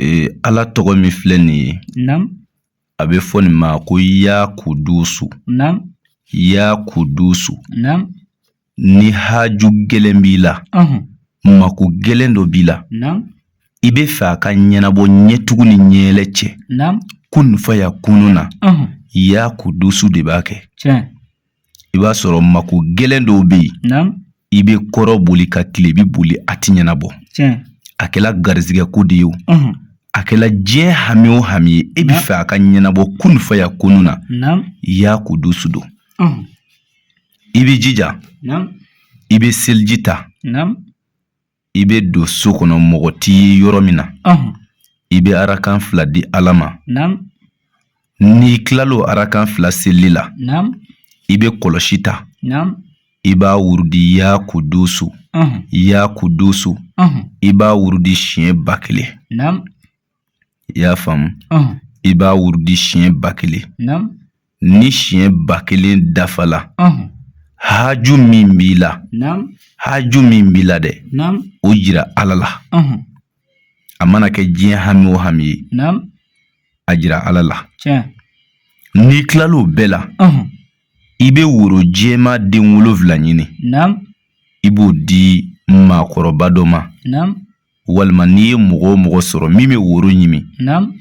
Ee ala tɔgɔ min filɛ nin ye a bɛ fɔ nin ma ko ya kudusu ya kudusu ni haju gɛlɛn b'i la mako gɛlɛn dɔ b'i la i bɛ fɛ a ka ɲɛnabɔ ɲɛ tugu ni ɲɛ yɛlɛ cɛ kunu fayakunu na ya kudusu de b'a kɛ i b'a sɔrɔ mako gɛlɛn dɔw bɛ yen i bɛ kɔrɔn boli ka tilebi boli a tɛ ɲɛnabɔ a kɛra garizigɛ ko de ye o a kɛra diɲɛ hami o hami ye i bɛ fɛ a ka ɲɛnabɔ kunu fayakunu na ya kudusu don i bɛ jija i bɛ seliji ta i bɛ don so kɔnɔ mɔgɔ t'i ye yɔrɔ min na i bɛ arakan fila di ala ma n'i kilal'o arakan fila seli la i bɛ kɔlɔsi ta i b'a wurudi ya kudusu ya kudusu i b'a wurudi siɲɛ ba kelen i y'a faamu i b'a wurudi siɲɛ ba kelen ni siɲɛ ba kelen dafala haju min b'i la haju min b'i la dɛ o jira ala la a mana kɛ diɲɛ hami o hami ye a jira ala la n'i kilal'o bɛɛ la i bɛ woro jɛma den wolonwula ɲini i b'o di maakɔrɔba dɔ ma walima n'i ye mɔgɔ o mɔgɔ sɔrɔ min bɛ woro ɲimi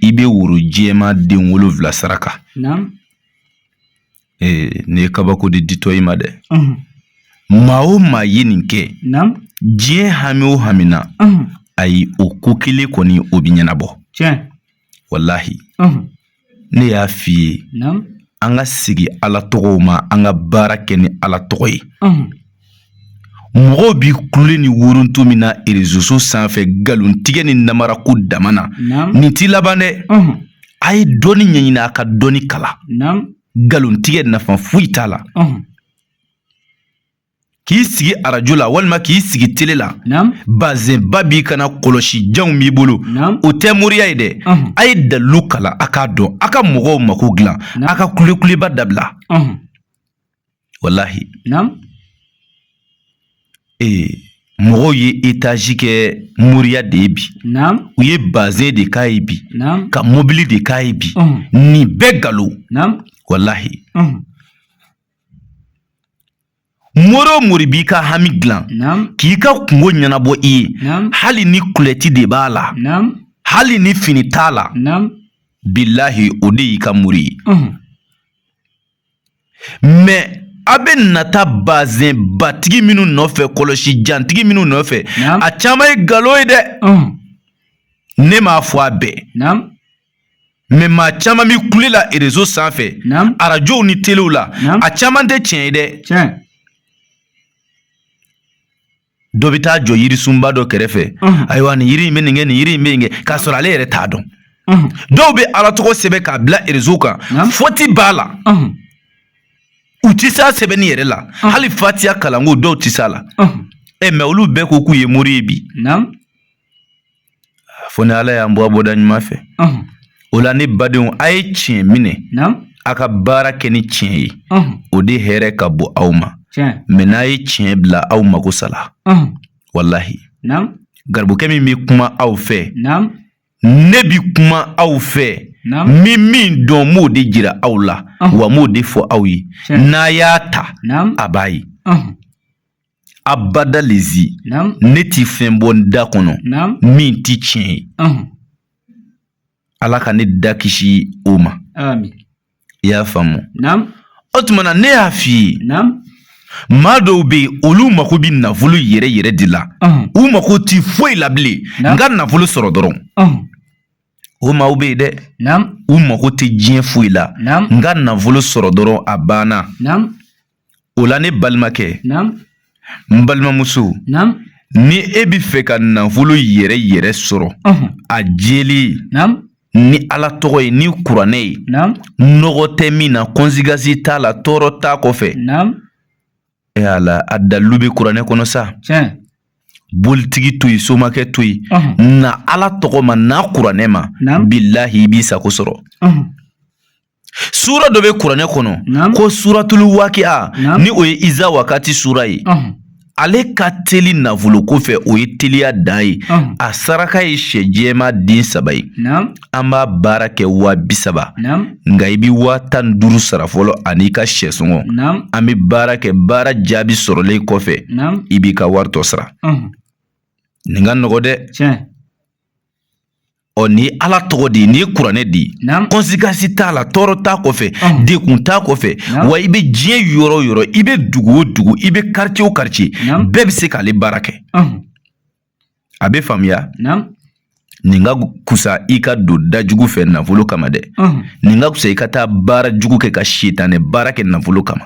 i bɛ woro jɛma den wolonwula saraka ee nin ye kabako de ditɔ i ma dɛ maa o maa ye nin kɛ diɲɛ hami o hami na a ye o ko kelen kɔni o bɛ ɲɛnabɔ walahi ne y'a f'i ye an ka segin ala tɔgɔw ma an ka baara kɛ ni ala tɔgɔ ye mɔgɔw bi kule ni wuruntu min na erezoso sanfɛ nkalontigɛ ni namara ko dama na nin t'i laban dɛ a ye dɔnni ɲɛɲini a ka dɔnni kalan nkalontigɛ nafa foyi t'a la k'i sigi arajo la walima k'i sigi tele la bazɛnba b'i kan na kɔlɔsi janw b'i bolo o tɛ moriya ye dɛ a ye dalilu kalan a k'a dɔn a ka mɔgɔw mako dilan a ka kulekuliba dabila walahi ee mɔgɔw ye etazi kɛ moriya de ye bi u ye bazɛn de k'a ye bi ka mobili de k'a ye bi nin bɛɛ galo walahi mori o mori b'i ka hami dilan k'i ka kunko ɲɛnabɔ i ye hali ni kulɔti de b'a la hali ni fini t'a la bilahi o de y'i ka mori ye mɛ a bɛ na taa bazɛnbatigi minnu nɔfɛ kɔlɔsijantigi minnu nɔfɛ a caman ye galon ye dɛ ne m'a fɔ a bɛɛ mɛ maa caman bɛ kule la erezo sanfɛ arajow ni telew la a caman tɛ tiɲɛ ye dɛ dɔ bɛ taa jɔ yirisunba dɔ kɛrɛfɛ ayiwa nin yiri in bɛ nin kɛ nin yiri in bɛ nin kɛ k'a sɔrɔ ale yɛrɛ t'a dɔn dɔw bɛ ala tɔgɔ sɛbɛn k'a bila erezo kan fɔti b'a la u tɛ se a sɛbɛnni yɛrɛ la hali fatiya kalanko dɔw tɛ se a la ɛ mɛ olu bɛɛ ko k'u ye mori ye bi fo ni ala y'an bɔ bɔda ɲuman fɛ o la ne badenw a ye tiɲɛ minɛ a ka baara kɛ ni tiɲɛ ye o de hɛrɛ ka bon aw ma mɛ n'a ye tiɲɛ bila aw mako sala walahi garibukɛ min bɛ kuma aw fɛ ne bi kuma aw fɛ n bi min dɔn n b'o de jira aw la wa n b'o de fɔ aw ye n'a y'a ta a b'a ye abada lezi ne ti fɛn bɔ n da kɔnɔ min ti tiɲɛ ye ala ka ne da kisi o ma i y'a faamu o tuma na ne y'a f'i ye maa dɔw bɛ yen olu mako bɛ nafolo yɛrɛ yɛrɛ de la u mako ti foyi la bilen n ka nafolo sɔrɔ dɔrɔn o maaw bɛ yen dɛ u mako tɛ diɲɛ foyi la n ka nafolo sɔrɔ dɔrɔn a banna o la ne balimakɛ n balimamuso ni e bɛ fɛ ka nafolo yɛrɛ yɛrɛ sɔrɔ a jɛlen ni ala tɔgɔ ye ni kuranɛ ye nɔgɔ tɛ min na kɔnsekansi t'a la tɔɔrɔ t'a kɔfɛ e y'a la a dalilu bɛ kuranɛ kɔnɔ sa bolitigi to yen somakɛ to yen na ala tɔgɔ ma na kuranɛ ma bilahi i b'i sago sɔrɔ Sura dɔ bɛ kuranɛ kɔnɔ ko suratulu wakiya ni o ye iza wakati sura ye ale ka teli nafolo ko fɛ o ye teliya dan ye a saraka ye sɛ jɛman den saba ye an b'a baara kɛ waa bi saba nka i bɛ waa tan ni duuru sara fɔlɔ ani'i ka sɛ sɔngɔ an bɛ baara kɛ baara jaabi sɔrɔlen kɔfɛ i b'i ka waritɔ sara nin ka nɔgɔ dɛ ɔ nin ye ala tɔgɔ de nin ye kuranɛ de kɔnsikansi t'a la tɔɔrɔ t'a kɔfɛ degun t'a kɔfɛ wa i bɛ diɲɛ yɔrɔ o yɔrɔ i bɛ dugu o dugu i bɛ karice o karice bɛɛ bɛ se k'ale baara kɛ a bɛ faamuya nin ka kusa i ka don da jugu fɛ nafolo kama dɛ nin ka kusa i ka taa baara jugu kɛ ka sitanɛ baara kɛ nafolo kama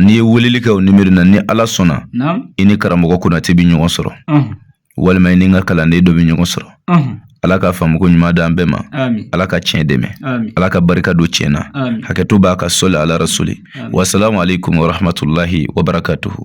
n'i ye weleli kɛ o nimiri na ni ala sɔnna i ni karamɔgɔ konate bɛ ɲɔgɔn sɔrɔ walima i ni n ka kalanden dɔ bɛ ɲɔgɔn sɔrɔ ala ka faamuko ɲuman di an bɛɛ ma ala ka tiɲɛ dɛmɛ ala ka barika don tiɲɛ na hakɛto b'a kan sola ala rasuli wasalamu alekum warahamatulahi wabarakatuhu